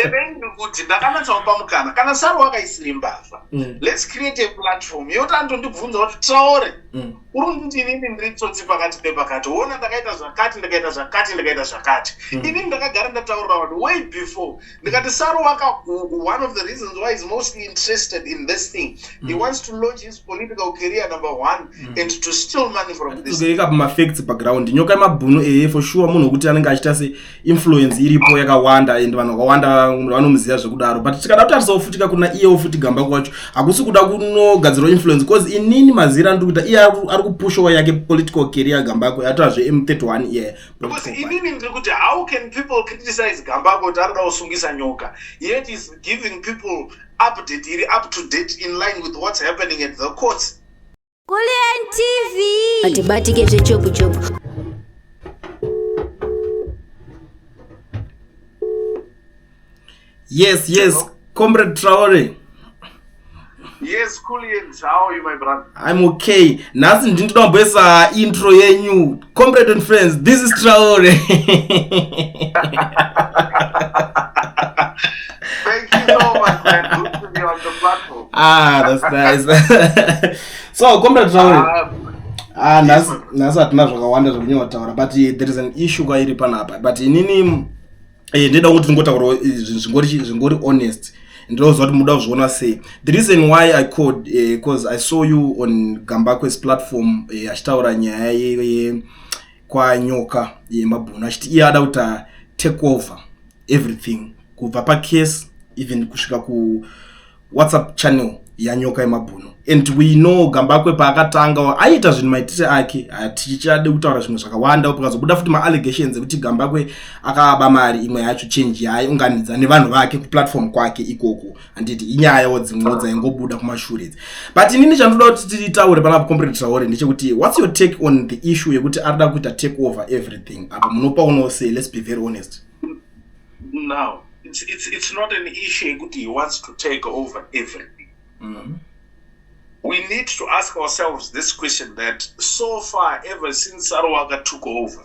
Ndepei ndikuti ndakanatsomupa mukana kana saro wakaisiri mbavha mm. let's create a platform yoti anotondibvunza kuti traore mm. uri kunditi inini ndiri tsotsi pakati pepakati woona ndakaita zvakati ndikaita zvakati ndikaita zvakati mm. inini ndakagara ndataurira vanhu way before ndikati saro waka one of the reasons why is mostly interested in this thing he wants to launch his political career number one and to steal money from this ikapamafacts paground nyoka yemabhunu eye for sure munhu wekuti anenge achita se influence iripo yakawanda and vanhu vakawanda vanomuziva zvekudaro but tikada kutarisawo futi ka kuna iyewo futi gamba kwacho hakusi kuda kunogadzirwa influence because inini mazira ndiri kuita iye ari kupushowa yake political career gambako yatova zve m31 iye because inini ndiri kuti how can people criticize gambako kuti arikuda kusungisa nyoka yet is giving people update iri up to date in line with what's happening at the courts Kulliant TV. Hatibatike zvechopu chopu. Yes, yes, Hello? Comrade Traore. Yes, Kulliant, how are you, my brother? I'm okay. Nhasi ndinoda kumboisa intro yenyu. Comrade and friends, this is Traore. Thank you so much, man. Good to be on the platform. Ah, that's nice. so, Comrade Traore. Ah, ah nhasi nhasi hatina zvakawanda zvekunyanya kutaura but eh, there is an issue kwairi panapa but inini eh, ndida kuti ndingotaura eh, zvingori honest ndinoziva kuti muda kuzviona sei the reason why i called because uh, i saw you on gambakwes platform achitaura uh, nyaya ye, ye, kwanyoka yemabhunu achiti iye ada kuti take over everything kubva pacase even kusvika kuwhatsapp channel yanyoka yemabhuno and we know gambakwe paakatanga aiita zvinhu maitire ake hatichade kutaura zvimwe zvakawanda pakazobuda futi maallegations ekuti gambakwe akaba mari imwe yacho change yaye unganidza nevanhu vake kuplatform kwake ikoko handiti inyaya wo dzimwewo dzaingobuda kumashure idzi but inini chandoda kuti titaure pana comrade traore ndechekuti whats your take on the issue yekuti ari da kuita take over everything apa munopa unowo sei let's be very honest now it's, it's, it's not an issue yekuti he wants to take over everything mm -hmm. we need to ask ourselves this question that so far ever since sarowaka took over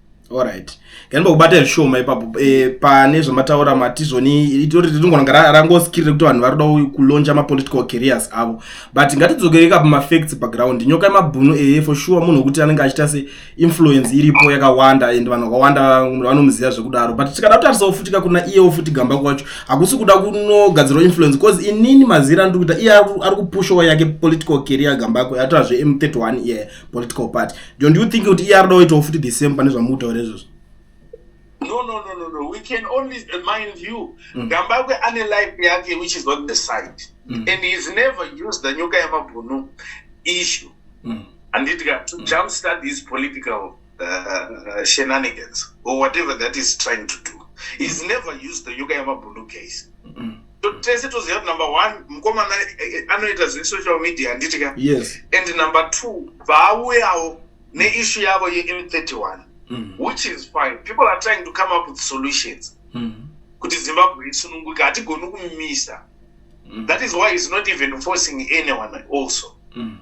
Alright. Ngani bakubata zvishoma ipapo e, pane zvamataura matizoni itori ringonanga rangoskirire kuti vanhu varida kulonja mapolitical careers avo but ngatidzokereka pamafacts background nyoka yemabhunu eye for sure munhu wekuti anenge achiita se influence iripo yakawanda and vanhu vakawanda vanomuziva zvekudaro but tikada kutarisa ofutika kuna iye ofuti gamba kwacho hakusi kuda kunogadzirwa influence bcause inini mazira ndiri kuita iye ari kupushowa yake political career gambako yatoa zve m31 iye yeah. political party john do you think kuti iye arida kuitawo futi the same pane zvamuri kutaura izvozvo no no no no no we can only mind you mm. gambakwe mm. ane life yake which is not the side mm. and he is never used the nyoka yamabhunu issue mm. and it got to mm. jump start his political uh, shenanigans or whatever that is trying to do he's never used the nyoka yamabhunu case mm. tese toziva kuti number one mukomana eh, eh, anoita zvesocial media handiti ka yes. and number two vaauyawo neishu yavo yem31 mm. which is fine people are trying to come up with solutions mm. kuti zimbabwe isununguka hatigoni kumisa mm. that is why is not even forcing anyone also mm.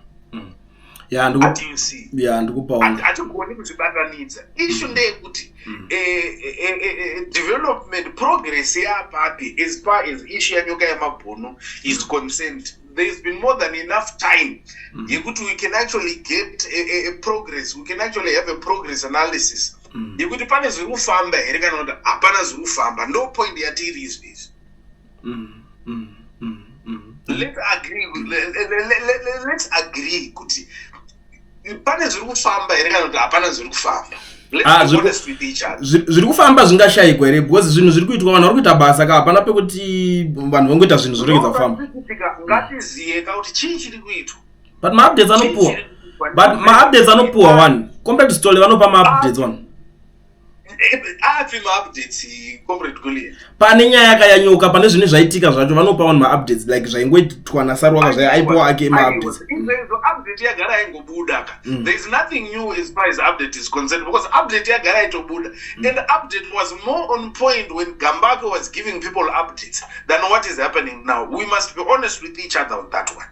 ya ndikupahatigoni kutibatanidza ishu mm. ndeyekuti mm. eh, eh, eh, development progress yapapi as far as ishu yanyoka yemabhunu is mm. concerned there's been more than enough time yekuti we can actually get a progress we can actually have a progress analysis yekuti pane zviri kufamba here kana kuti hapana zviri kufamba ndo point yatiiri izvi izvi mm, mm, mm, mm. let's agree let's agree kuti pane zviri kufamba here kana kuti hapana zviri kufamba ah, zviri kufamba zvingashayikwa here because zvinhu zviri kuitwa vanhu vari kuita basa ka hapana pekuti vanhu vangoita zvinhu zviregedza kufamba ngatizive ka kuti chii chiri kuitwa but maupdates anopuwa but maupdates anopuwa one compared to stole vanopa maupdates one api maupdates comrade goliat pane nyaya yakayanyuka pane zvine zvaitika zvacho vanopa vanhu maupdates like zvaingoitwa nasarwaka zvaye aipowa ake maupdates izvezvo update yagara yaingobuda ka mm. there is nothing new as far as update is concerned because update yagara yaitobuda mm. and update was more on point when gambake was giving people updates than what is happening now we must be honest with each other on that one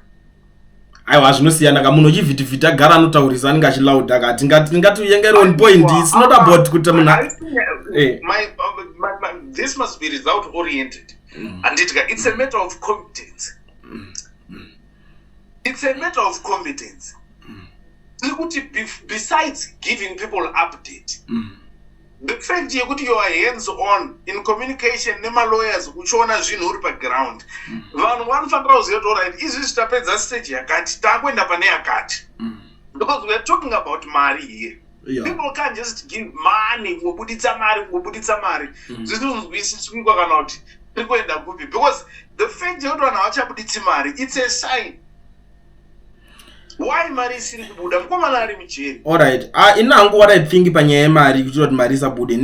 aiwa zvinosiyana ka munhu uchivhitivhiti agara anotaurisa anenge achilauda ka tingatiuyengeri on point its not about kuti munhu eh. this must be result oriented mm. anditika its a matter of competence mm. Mm. its a matter of competence tiri kuti besides giving people update different yekuti you are hands on in communication nemalawyers uchiona zvinhu uri paground mm. vanhu vanofanira kuziva kuti orit izvi zvitapedza stage yakati takuenda pane yakati mm. because weare talking about mari here Yeah. people can just give money kungobuditsa mari kungobuditsa mari mm. zvisinzwisiswikwa kana kuti tiri kuenda kupi because the fact yekuti vanhu havachabuditsi mari its a sign why mari isiri kubuda mukomana ari mujeri allright ah, ini hangu what i think panyaya yemari kuchira kuti mari isabude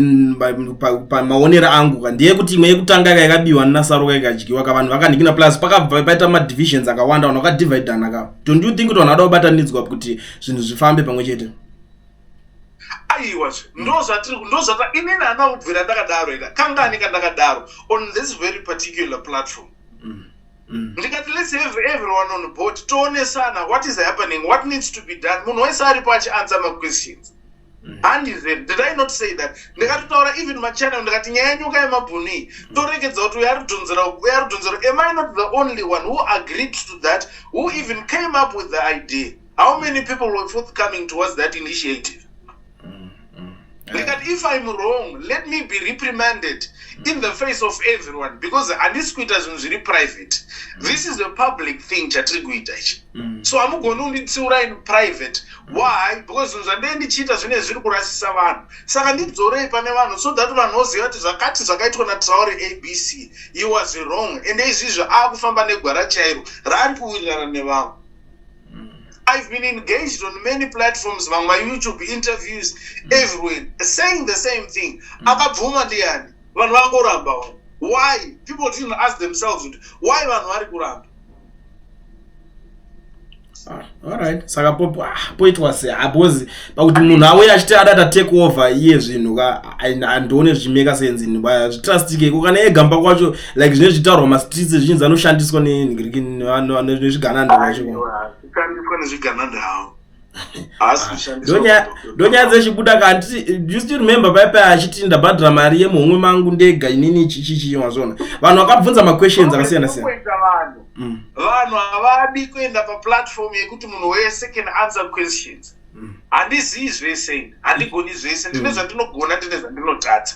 pamaonero angu ka ndiye kuti imwe yekutanga ka yakabiwa ninasaruka ikadyiwa ka vanhu vakandikina plus pakabva paita madivisions akawanda vanhu vakadividana ka don't you think kuti vanhu vada kubatanidzwa kuti zvinhu zvifambe pamwe chete aiwa ndozvatiri ndozvata inini hana kubvira ndakadaro ika kangani kandakadaro on this very particular platform mm. mm. ndikati let's have everyone on board toonesana what is happening what needs to be done munhu wese aripo achiansa maquestions mm. handize did i not say that ndikatotaura even machannel ndikati nyaya yenyuka yemabhunu iyi mm. torekedza kuti uyo aridhonzera uyo aridhonzera am i not the only one who agreed to that who even came up with the idea how many people were forthcoming towards that initiative mm. ndikati if im wrong let me be reprimanded in the face of everyone because handisi kuita zvinhu zviri private mm. this is a public thing chatiri kuita ichi mm. so hamugoni kunditsiura in private why because zvinhu zvandee ndichiita zvine zviri kurasisa vanhu saka ndidzorei pane vanhu so that vanhu voziva kuti zvakati zvakaitwa natraure abc he was wrong ende izvizvi aakufamba negwara chairo raari kuwirirana nevamwe I've been engaged on many platforms on my YouTube interviews mm. everywhere saying the same thing. Mm. Akabvuma ndiyani vanhu vangoramba wani. Why? People didn't ask themselves kuti why vanhu vari kuramba. Ah, alright saka ah, poitwa sei ah, because pakuti munhu auye achiti adata take over iye zvinhu ka handione zvichimeka senzi nhuba zvitrustike ko kana egamba kwacho like zvine zvitaurwa mastreets zvichinzi anoshandiswa nenhiriki nezvigananda kwacho ndonyaya dzechibuda kanditi you still remember paipai achiti ndabhadhira mari yemuhomwe mangu ndega inini chichichii mazvona vanhu vakabvunza maquestions akasiyana siyana mm. vanhu havadi kuenda paplatform yekuti munhu wese can answer questions mm. handizivi zvese ini handigoni zvese ndine mm. zvandinogona ndine zvandinotadza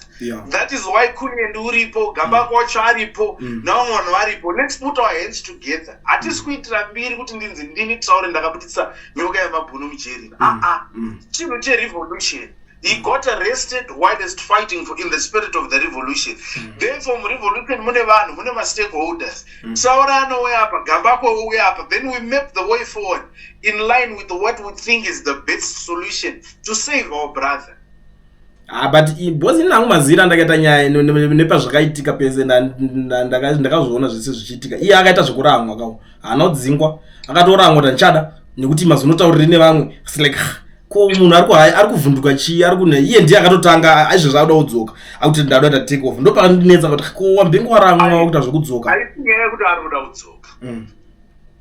that is why kunyendi uripo gamba mm. wacho aripo mm. navamwe vanhu varipo lets put our hands together hatisi mm. kuitira mbiri kuti ndinzi ndini traure ndakabudisa nyoka yamabhunu mujeri mm. aa ah, ah. mm. chinhu cherevolution he got arrested whilst fighting for, in the spirit of the revolution mm. therefore murevolution mune vanhu mune mastakeholders mm. saura anouya apa gambako ouya apa then we map the way forward in line with what we think is the best solution to save our brother Ah, but because ini nangu mazira ndakaita nyaya nepazvakaitika pese ndakazviona zvese zvichiitika iye akaita zvekurangwa kao haana kudzingwa akatorangwa tandichada nekuti mazonotauriri nevamwe like ko munhu ari kuhaya ari kuvhunduka chii ari kune iye ndiye akatotanga aizvezvi akuda kudzoka akuti ndada kuita take off ndopakandinetsa kuti ko wambenge waramwa wakuita zvekudzoka aisinyaya yekuti ari kuda kudzoka mm.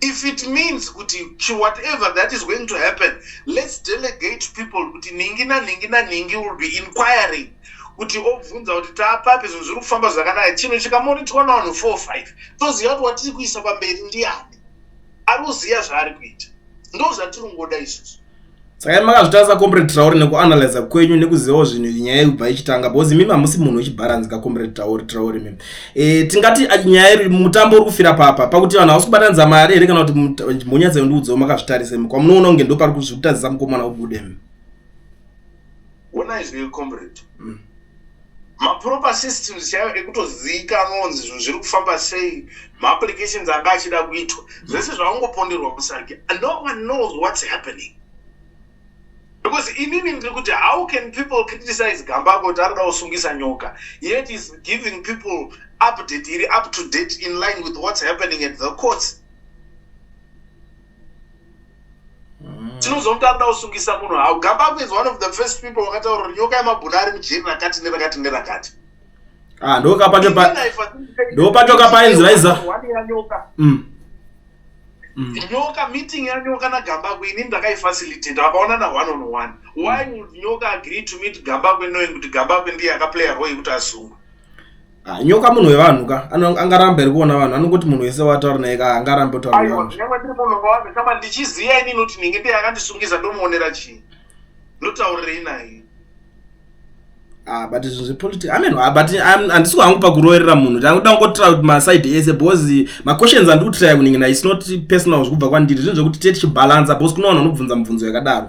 if it means kuti whatever that is going to happen let's delegate people kuti ningi naningi naningi will be inquiring kuti obvunza kuti taapapi zvinhu zviri kufamba zvakanaka chinhu chikamonitwa navanhu four five toziva kuti watiri kuisa pamberi ndiani ari kuziva zvaari kuita ndo zvatiri kungoda isusu saka imi makazvitarisa comrade traore nekuanalyza kwenyu nekuzivawo zvinhu nyaya yekubva ichitanga because mimi hamusi munhu wechibharanzi ka comrade traore traore mimi e, tingati ah, nyaya iri mutambo uri kufira papa pakuti vanhu hausi kubatanidza mari here kana kuti mhonyatsa yondiudzawo makazvitarisa imi kwamunoona kunge ndo pari kuzvikutadzisa mukomana ubude mi Wona is real comrade. Mm. maproper systems chaiyo ekutozivikanwa kunzi zvinhu zviri kufamba sei maapplications anga achida kuitwa zvese zvaungoponderwa musarge no one knows what's happening because inini ndiri kuti how can people criticize gamba kuti arida kusungisa nyoka yet is giving people update iri up to date in line with what's happening at the courts tinozomutanga kuda kusungisa munhu hau gambakwe is one of the first people wakataura kuti nyoka yemabhuna ari mujeri rakati nerakati nerakati ah, ndopatoka painzi vaiza mm. Mm. nyoka meeting yanyoka nagambakwe ini ndakaifacilitata vakaona na one on one why would nyoka agree to meet gambakwe knowing kuti gambakwe ndiye akaplaya roi kuti asungwe Ah, nyoka munhu wevanhu ka Ano- angaramba iri kuona vanhu anongoti munhu wese wataura naye ka angaramba otaura aiwa nevanhu zvinenge ndiri munhu wavanga kama ndichiziva ini noti ndinenge ndiye akandisungisa ndomuonera chii ndotaurirei naye Ah, but izvi zvepolitics amen ah, but I'm- handisi kuhangu pakuroerera munhu ndakuda kungotra kuti maside ese because maquestions andiri kutraya kuningina is not personal zvekubva kwandiri zvinhu zvekuti tiye tichibalansa because kune vanhu vanobvunza mubvunzo yakadaro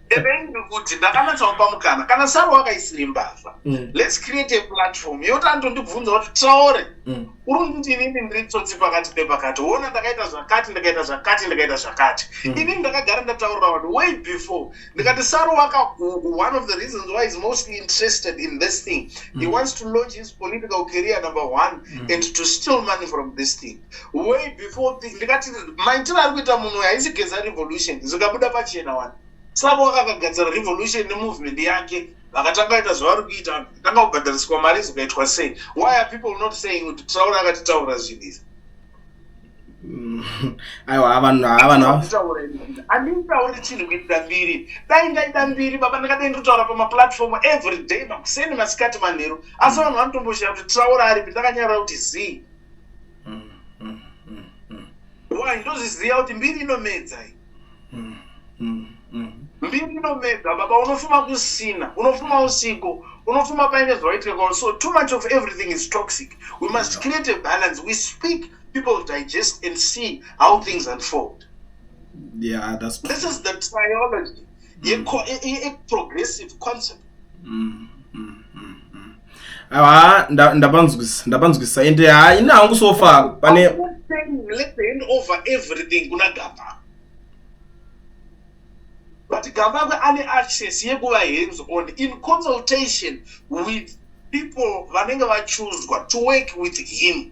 endeni ndikuti ndakanatsomupa mukana kana saro wakaisiri mbavha mm. lets create a platform yoti anotondibvunza kuti traore mm. uri kuti inini ndiri tsotsi pakati pepakati wona ndakaita zvakati ndikaita zvakati ndikaita zvakati mm. inini ndakagara ndataurira vanhu way before ndikati saro waka one of the reasons why is mostly interested in this thing he wants to launch his political career number one and to still money from this thing way before thing ndikati maitiro ari kuita munhu uyo haisi geza revolution zvingabuda pachena wani saka wakakagadzira revolution nemovement yake vakatanga ita zvavari kuita vanhu vakatanga kubhadhariswa mari zikaitwa sei why are people not saying kuti traura akatitaura zvinhu izvi aiwa vanhu havanhaanditauri chinhu kuitira mbiri dai ndaida mbiri baba ndakadai ndotaura pamaplatform every day makuseni masikati manheru asi vanhu vanotomboshaya kuti traura aripi ndakanyarora kuti zii why ndozviziva kuti mbiri inomedza iyi mbiri inomedza baba unofuma kusina unofuma usiku unofuma paine zvawaitika kwauri so too much of everything is toxic we must yeah. create a balance we speak people digest and see how things unfold yeah, that's... this is the triology mm. a, a, a progressive concept mm. Mm. haa ndapanzwisa ndapanzwisa ende haa ini hangu sofa pane but gambakwe ane access yekuva hands on in consultation with people vanenge vachuzwa to work with him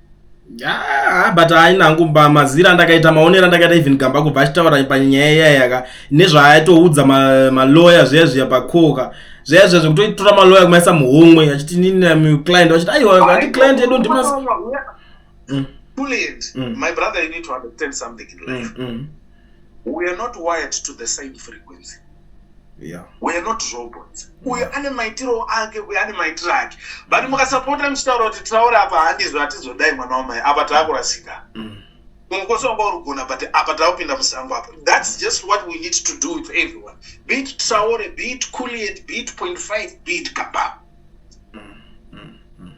Ah, but haina hangu mazira ndakaita maonero andakaita even gamba kubva achitaura panyaya iyayaka nezvaaitoudza maloya zviya zviya pakoka zviya zviya zvekutoitora maloya kumaisa muhomwe achiti nini client vachiti aiwa ati client yedu ndimas mm. Mm. Mm. my brother you need to understand something in life we are not wired to the same frequency yeah. we are not robots uyo ane maitiro ake uyo ane maitiro ake but mukasapota muchitaura kuti traore apa handizvo hatizodai mwana wamai apa taakurasika mm. ungokosi wanga urigona but apa taakupinda musango apa thats just what we need to do with everyone be it traore be it culiet be it point five be it kabab mm, mm,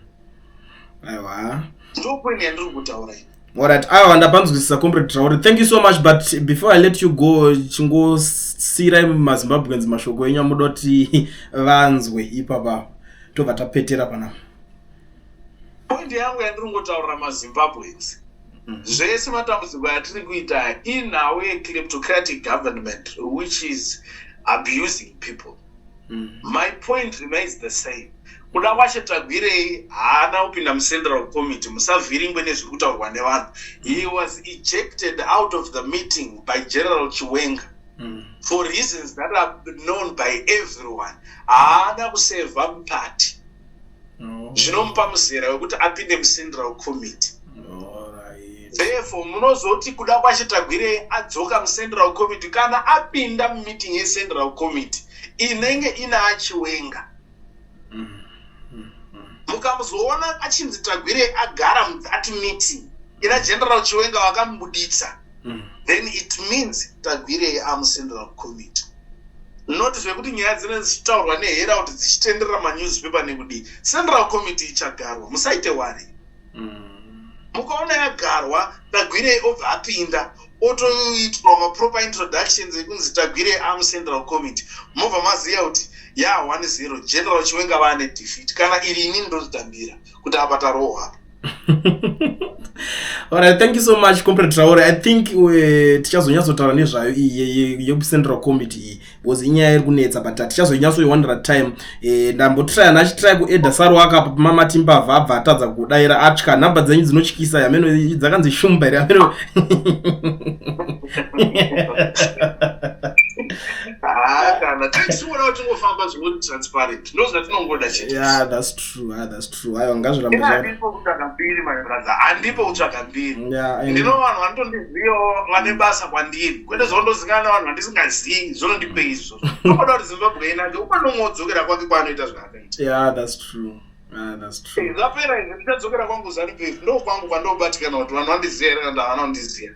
aiwa ndokueni yandiri kutaura ini Alright, awa ah, ndapanzwisisa comrade Traore. Thank you so much but before I let you go chingosiira maZimbabweans mashoko enyu amuda kuti vanzwe ipapa tobva tapetera pana. Point yangu yandiri ngotaurira maZimbabweans mm-hmm. zvese matambudziko atiri kuita inhawu yecleptocratic government which is abusing people mm. my point remains the same kuda kwashe tagwirei haana kupinda mucentral committee musavhiringwe nezviri kutaurwa nevanhu he was ejected out of the meeting by general chiwenga mm. for reasons that are known by everyone haana kuseva mupati zvinomupa muzera wekuti apinde mucentral committee therefore munozoti kuda kwachetagwirei adzoka mucentral committee kana apinda mumeeting yecentral committee inenge ina achiwenga mukamuzoona achinzi tagwirei agara muthat meeting ina general chiwenga vakamubuditsa mm. then it means tagwirei amucentral committee not zvekuti nyaya dzine dzichitaurwa nehera kuti dzichitenderera manewspaper nekudii central committee ichagarwa musaite wari mm. mukaona yagarwa tagwirei obva apinda otoitwa maproper introductions ekunzi tagwirei amucentral committee mobva maziva kuti ya 10 general chiwenga vane defeat kana iri ini ndotitambira kuti apa tarohwa alright thank you so much compre traore i think uh, tichazonyatsotaura nezvayo iyi yekucentral committee iyi because inyaya iri kunetsa but tichazonyatsoiwandira time eh, ndambotrya ndachitry kueda saro akapa mama timbavha abva atadza kudaira atya nhamba dzenyu dzinotyisa yameno dzakanzi shumba here ameno ah, kana tichiona kuti tingofamba zvingoti transparent ndozvatinongoda chete yeah that's true ah that's true ayo ngazvirambe zvaa handipo kutsvaga mbiri my brother handipo kutsvaga mbiri yeah ndino vanhu vanotondizivawo vane basa kwandiri kwete zvondozingana na vanhu vandisingazivi zvonondipe izvo anoda kuti zimbabwe ina ndi umwe nomwe wodzokera kwake kwaanoita zvaakaita yeah that's true ah, zvapera izvi ndichadzokera kwangu zanupf ndo kwangu kwandobatikana kuti vanhu vandiziva here kana ndavana kundiziva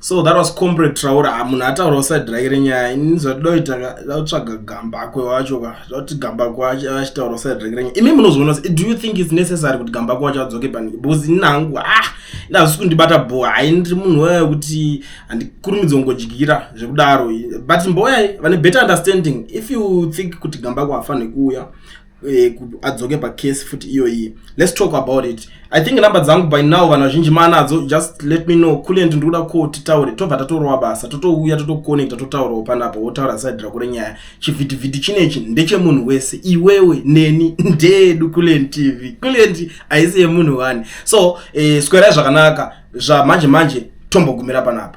so that was comrade traura ah, munhu ataura uside rake renyaya ini zvatoda kuita dautsvaga gambakwe wacho ka zvauti gambakwe wacho achitaura uside rake renyaya imi munozviona se do you think its necessary kuti gambakwe wacho adzoke pani because ini nangu ah ndazvisi kundibata bho hai ndiri munhu waya wekuti handikurumidzi kungodyira zvekudaro but mboyai vane better understanding if you think kuti gambakwe hafanhe kuuya eh, adzoke pacase futi iyoyi let's talk about it i think number dzangu by now vanhu vazhinji maanadzo just let me know kulent ndikuda ko titaure tobva tatorova basa totouya totoconnecta totaurawo panapa wotaura side rako renyaya chivhitivhiti chinechi ndechemunhu wese iwewe neni ndeedu kulent tv kulent haisi yemunhu wani so eh, swerai zvakanaka zvamanje manje tombogumira panapa